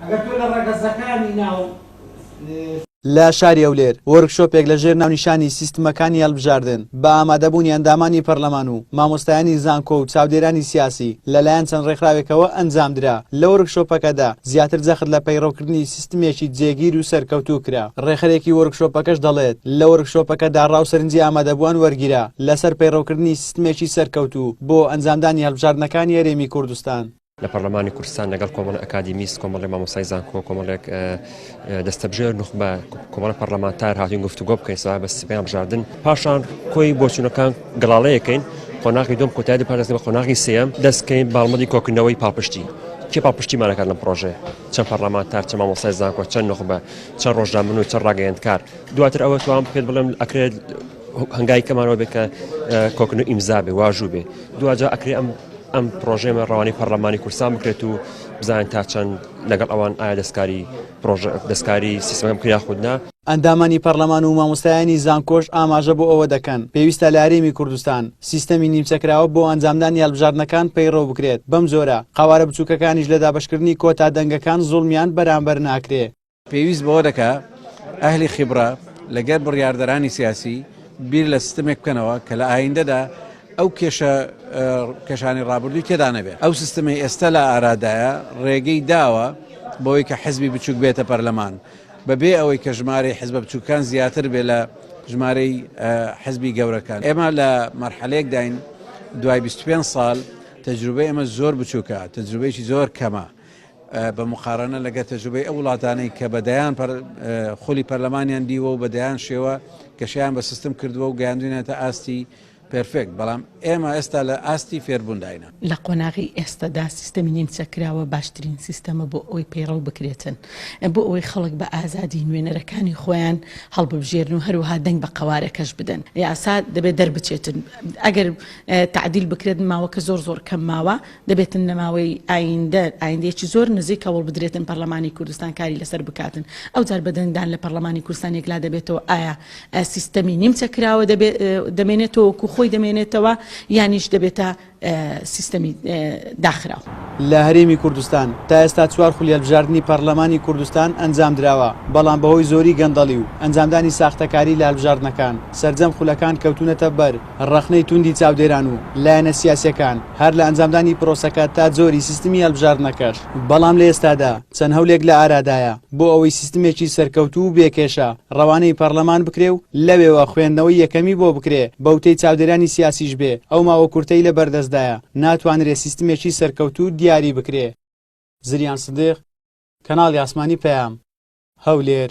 ئەگەر تۆ لە ڕەگەزەکانی ناو. لە شاری هەولێر وۆرکشۆپێک لە ژێر ناونیشانی سیستمەکانی هەڵبژاردن بە ئامادەبوونی ئەندامانی پەرلەمان و مامۆستایانی زانکۆ و چاودێرانی سیاسی لەلایەن چەند ڕێکخراوێکەوە ئەنجامدرا لە وۆرکشۆپەکەدا زیاتر جەخت لە پەیڕەوکردنی سیستمێکی جێگیر و سەرکەوتوو کرا ڕێخەرێکی وۆرکشۆپەکەش دەڵێت لە وۆرکشۆپەکەدا ڕا و سەرنجی ئامادەبووان وەرگیرا لەسەر پەیڕەوکردنی سیستمێکی سەرکەوتوو بۆ ئەنجامدانی هەڵبژاردنەکانی هەرێمی کوردستان. لە پەرلەمانی کوردستان لەگەڵ کۆمەڵی ئەکادیمیست کۆمەڵی مامۆسای زانکۆ کۆمەڵێک دەستەبژێر نخبە کۆمەڵە پەرلەمانتار هاتین گفتوگۆ بکەین سا بە سپیان بژاردن پاشان کۆی بۆچوونەکان گەڵاڵەیەکەین قۆناغی دوم کۆتای پارێزگە بە قۆناغی سێم دەستکەین باڵمەدی کۆکردنەوەی پاڵپشتی کێ پاڵپشتیمانەکان لەم پرۆژێ چەند پەرلەمانتار چە مامۆسای زانکۆ چەند نخبە چەند ڕۆژنامە و چەند ڕاگەیەندکار دواتر ئەوە توان پێت بڵێم ئەکرێت هنگاوی کەمان ئەوە بێت کە کۆکردن و ئیمزا بێ واژوو بێ دواجا ئەکرێ ئەم ئەم پرۆژێمە ڕەوانی پەرلەمانی کورسان بکرێت و بزان تا چەند لەگەڵ ئەوان ئایا دەستکاری پرۆژە دەستکاری سیستمەکە بکە یاخود نا. ئەندامانی پەرلەمان و مامۆستایانی زانکۆش ئاماژە بۆ ئەوە دەکەن، پێویستە لە هەرێمی کوردستان سیستەمی نیمچەکراوە بۆ ئەنجامدانی هەڵبژاردنەکان پەیڕەو بکرێت، بەمجۆرە قەوارە بچووکەکانیش لە دابەشکردنی کۆتا دەنگەکان زوڵمیان بەرامبەر ناکرێ. پێویست بەوە دەکا ئەهلی خیبڕە لەگەر بڕیاردەرانی سیاسی بیر لە سیستمێک بکەنەوە کە لە ئایندەدا ئەو کێشە کەشانی ڕابردووی تێدا نەبێت ئەو سیستمی ئێستا لە ئارادایە ڕێگەی داوە بۆی کە حزبی بچوک بێتە پەرلەمان بەبێ ئەوەی کە ژمارەی حزبە بچووکان زیاتر بێ لە ژمارەی حزبی گەورەکان ئێمە لە مەرحەلێک داین دوای 25 سال تەجروبە ئێمە زۆر بچووکە تەجروبەیەکی زۆر کەمە بە موقارەنە لەگەر تەجروبەی ئەو وڵاتانەی کە بە دەیان خولی پەرلەمانیان دیوە و بە دەیان شێوە گەشیان بە سیستم کردووە و گەیاندوینێتە ئاستی پێرفێکت بەڵام ئێمە ئێستا لە ئاستی فێربوونداینە. لە قۆناغی ئێستەدا سیستەمی نیمچەکراوە باشترین سیستەمە بۆ ئەوەی پەیڕەو بکرێتن بۆ ئەوەی خەڵک بە ئازادی نوێنەرەکانی خۆیان هەڵببژێرن و هەروەها دەنگ بە قەوارەکەش بدەن یاسا دەبێت دەربچێتن ئەگەر تەعدیل بکرێت ماوەکە زۆر زۆر کەم ماوە. دەبێتن لە ماوەی ئایندە، ئایندەیەکی زۆر نزیک، هەوڵبدرێتن پەرلەمانی کوردستان کاری لەسەر بکاتن. ئەوجار بە دەنگدان لە پەرلەمانی کوردستان یەکلا دەبێتەوە ئایا سیستەمی نیمچە کراوە دەمێنێتەوە وەکو خۆی دەمێنێتەوە یانیش دەبێتە سیستەمی داخراو. لە هەرێمی کوردستان تا ئێستا چوار خولی هەلبژاردنی پەرلەمانی کوردستان ئەنجامدراوە، بەڵام بەهۆی زۆری گەندەڵی و ئەنجامدانی ساختەکاری لە هەلبژاردنەکان سەرجەم خولەکان کەوتونەتە بەر ڕەخنەی توندی چاودێران و لایەنە سیاسیەکان هەر لە ئەنجامدانی پرۆسەکە تا جۆری سیستمی هەلبژاردنەکەش، بەڵام لە ئێستادا چەند هەولێک لە ئارادایە بۆ ئەوەی سیستمێکی سەرکەوتوو و بێ کێشە ڕەوانەی پەڕلەمان بکرێ و لەوێوە خوێندنەوەی یەکەمی بۆ بکرێ بە وتەی چاودێرانی سیاسیش بێ ئەو ماوە کورتەی لە بەردەستدایە ناتوانرێ سیستمێکی سەرکەوتوو دیاری بکرێ. زریان سدیق، کەناڵی ئاسمانی پەیام، هەولێر.